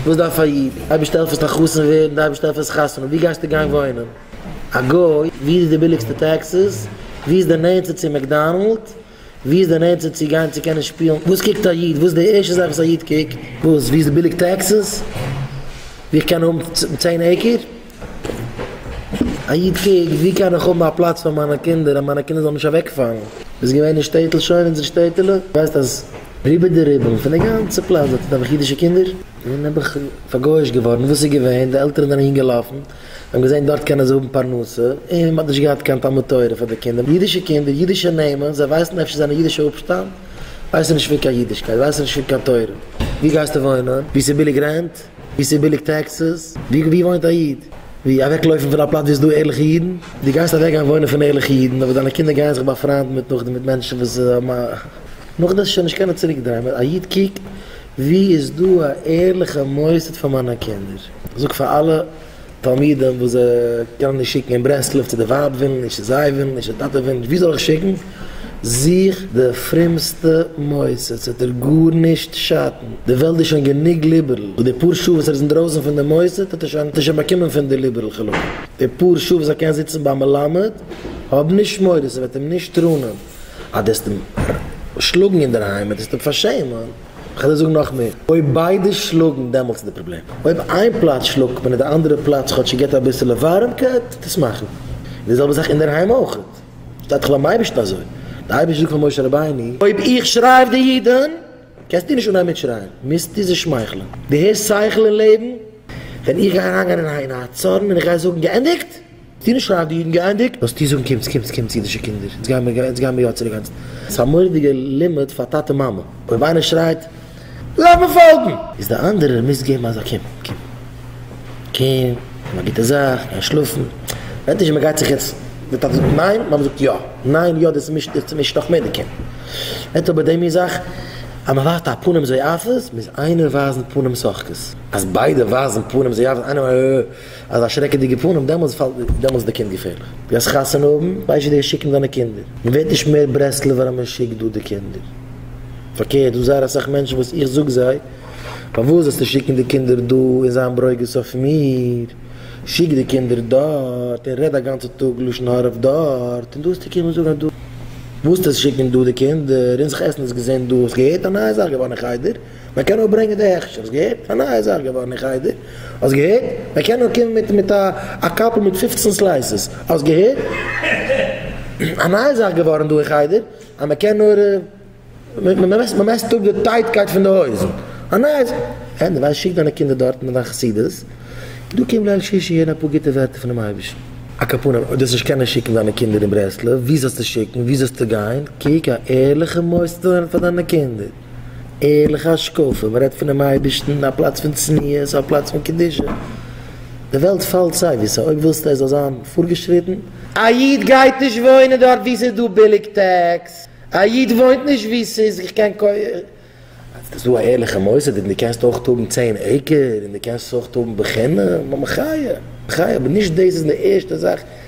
וואס דארף א איד? אייביג שטעלפערס א חתן ווערן, די אייביג שטעלפערס חתונה, ווי גייסטו גיין וואוינען? א גוי? ווי איז די ביליגסטע טעקסיס? ווי איז די נענטסטע צו מעקדאנעלד? ווי איז די נענטסטע צו גיין צו קענען שפילן? וואס קוקט א איד? וואס איז די ערשטע זאך וואס א איד קוקט? וואס? ווי איז די ביליג טעקסיס? ווי איך קען האבן צען עיקער? א איד קוקט, ווי קען איך האבן א פלאץ פאר מיינע קינדער אז מיינע קינדער זאלן נישט אוועקפאלן? ביסט געווען אין שטעטל שוין? אונזער שטעטעלע? ווייסט אז רובא דרובא פון די גאנצע פלאץ דארט איז נעבעך אידישע קינדער? ווען האב איך פארגויאישט געווארן? וואס איז געווען? די עלטערן זענען אהינגעלאפן, זיי האבן געזען דארט קענען זיי האבן פרנסה, און מען האט נישט געהאט קיין תלמוד תורה פאר די קינדער, אידישע קינדער, אידישע נעמען, זיי ווייסן אפשר זיי זענען אידישע אפשטאם? ווייסן נישט פון קיין אידישקייט, ווייסן נישט פון קיין תורה, ווי גייסטו וואוינען? ווי ס'איז ביליג רענט? ווי ס'איז ביליג טעקסעס, ווי וואוינט א איד, ווי אוועקלויפן פון א פלאץ ווי עס איז דא ערליכע אידן, דו גייסט אוועקגיין וואוינען פון ערליכע אידן, אבער דיינע קינדער גייען זיך באפריינדן מיט נאכדעם מיט מענטשן וואס האבן א. נאכדעם איז שוין נישט קיינער צוריק דרייען, א איד קוקט ווי איז דא א ערליכע מוסד פאר מיינע קינדער, זאגט פאר אלע. תלמידים וואס זיי קענען נישט שיקן אין ברסלב צו די ווייב ווילן נישט צו זיי ווילן נישט צו טאטע ווילן נישט ווי זאל איך שיקן? זוך די פרומסטע מוסד ס'וועט דיר גארנישט שאטן די וועלט איז שוין גענוג ליבערל וואס די פאר שעה וואס ער איז אינדרויסן פון די מוסד האט ער שוין האט ער שוין באקומען פון די ליבערל כלומר די פאר שעה וואס ער קען זיצן ביים מלמד האב נישט מורא ס'וועט אים נישט ראונען אז דו וועסט אים שלאגן אינדערהיים און דו וועסט אים פארשעמען. כ'על דיר זאגן נאך מער, אויב ביידע שלאגן דעמאלטס איז די פראבלעם, אויב איין פלאץ שלאגט מען און די אנדערע פלאץ כאטש ס'געט אביסעלע ווארעמקייט טוט עס מאכן, און די זעלבע זאך אינדערהיים אויך, שטייט דאך ביים אייבערשטן אזוי, די אייבערשטער זאגט פאר משה רבינו, אויב איך שריי אויף די אידן קענסטו נישט אנהייבן מיט שרייען, מוזטו זיי שמייכלען, דו הערסט שכל און לעבן? ווען איך גיי אריינגיין אין א צארן און איך גיי זאגן געענדיגט! די נישט רייד די אידן גייענדיג. וואס טו זאגן קומטס קומטס קומטס אידישע קינדער אונז גייען מיר אונז גייען מיר יא צו די גאנצע. ס'איז א מורא'דיגע לימוד פאר טאטע מאמע. אויב איינער שרייט לאמיר פאלגן! איז די אנדערער מוז געבן אזא קום קום קום קום א גוטע זאך גיי שלאפן. ווענדט נישט ווי מ'גייט זיך יעצט די טאטע זאגט ניין מאמע זאגט יא ניין יא דאס מישט דאס צומישט נאך מער די קינד. ווענדט אבער די מין זאך אז מ'ווייזט א פנים זועפות מוז איינער ווייזן פנים שוחקות. אז ביידע ווייזן פנים זועפות איינער. אזא שרעקעדיגע פנים דעמאלס פאלט דיר דעמאלס די קינד געפערליך די גייסט חתונה האבן ווייסט ווי די גייסט שיקן דיינע קינדער מען ווערט נישט מער ברסלב'ער אז מען שיקט דא די קינדער פארקערט דא זייער אסאך מענטשן וואס איך זאג זיי פארוואס זאלסטו שיקן די קינדער דא און זיין ברוגז אויף מיר שיק די קינדער דארט און רעד א גאנצע טאג לשון הרע אויף דארט און דא האסטו קומען זאגן אז דא וואלסטו שיקן דא די קינדער און זיך עסן האסט געזען דא האסט געהערט א נייע זאך געווארן אין חדר. מען קען נאר ברענגען די הכשר, האסט געהערט? א נייע זאך געווארן אין חדר, האסט געהערט? מען קען נאר קומען מיט מיט א קאפל מיט פופצן סלייסעס, האסט געהערט? א נייע זאך געווארן דא אין חדר, אז מען קען נאר, מען מעסט אפ די טייטקייט פון די הויזן, א נייע זאך, העי דו ווייסט, שיק דיינע קינדער דארטן אין דיין חסידות, דא קום ליל שישי הערן אפאר גוטע ווערטער פונעם אייבערשטן. א קאפונעם, אויב דאס נישט קענען שיקן דיינע קינדער אין ברסלב, וואו זאלסטו שיקן? וואו זאלסטו גיין? קוק א ערליכע מוסד אן פאר דיינע קינדער. ערליכע השקפה, מען רעדט פונעם אייבערשטן, א פלאץ פון צניעות, א פלאץ פון קדושה, די וועלט פאלט סייוויס אויב ווילסטו עס זאל זיין פארגעשריטן, א איד גייט נישט וואוינען דארט וואו ס'איז דא ביליג טעקס, א איד וואוינט נישט וואו ס'איז איך קען קויפן. אז ס'איז דא א ערליכע מוסד און דו קענסט אויך האבן צען עיקער און דו קענסט עס אויך האבן בחינם, א מחיה, מחיה, אבער נישט דאס איז די ערשטע זאך.